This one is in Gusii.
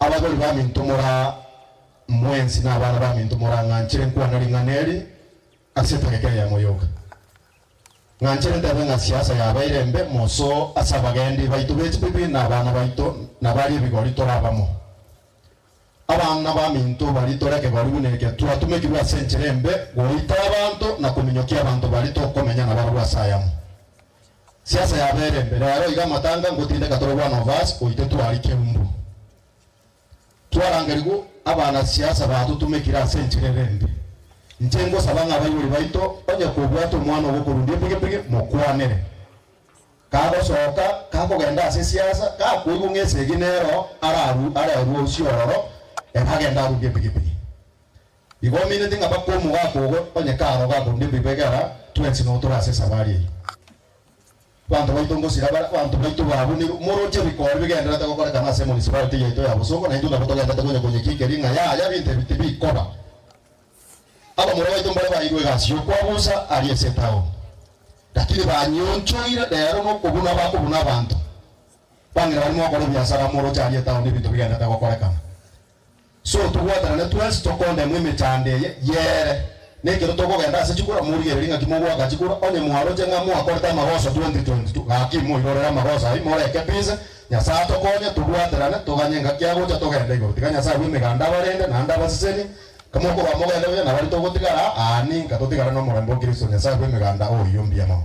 Abagori baminto mora mwensi na abana baminto morang'anchere nkwana ring'ana eri ase etageka eye ya moyoka. Ng'anchere ntebe ng'a siasa yabeire embe moso ase abagendi baito be chibibi na abana baito na baria ebigori tore abamo. Abana baminto bari tore ekegori buna eke twatumekirwe ase enchera embe goita abanto na kominyokia abanto bari tokomenya nabarabwo ase ayamo. Siasa yabere mbe rero iga amatanga ngotindeka tore bwana ovasi oite twari keumbu. Twarangerigwe abana siasa batotumekire ase enchera ere mbe. Inche ngosaba ng'a abaibori baito onye kobwate omwana ogokorundia epigipigi mokwanere. Kagosoka kakogenda ase siasa gakoigwa ng'a esegi nero ararue are arue usi ororo ere agende arundie epigipigi. Igo ominete ng'a bakomu gakogo onye karo gakonde bibegera twensi no tore ase esabari eyio. Banto baito ngosira bare abanto baito baabunirwe, moroche bikori bigendererete gokorekana ase municipality yaito ya Bosongo na intwe nabo togendererete konya konyekinkeri ng'a yaya binto ebi tibikoba. Abamura baito mbare bairwe egasi y'okwabusa aria ase etaoni, lakini banyionchoire rero nokobuna bakobuna abanto bang'ina barimo gokora ebiasara moroche aria etaoni ebinto bigendererete gokorekana. So tobwatanane twensi tokondemwa emechando eye y'eere, na ekero tokogenda ase chikura, morigererie ng'aki mogoaka chikura, onye mwaroche ng'a mwakorete amagoso 2022, gaki moirorere amagoso ayio, moreke peace, Nyasae atokonye, tobwaterane, toganye engaki agocha, togende igoro. Tiga Nyasae bw'emeganda abarende, naende abasesenie, kamokorwa mogende buya, na baria togotigara aa ninka, totigare nomorembe o Kristo, Nyasae bw'emeganda oiyo mbuya mono.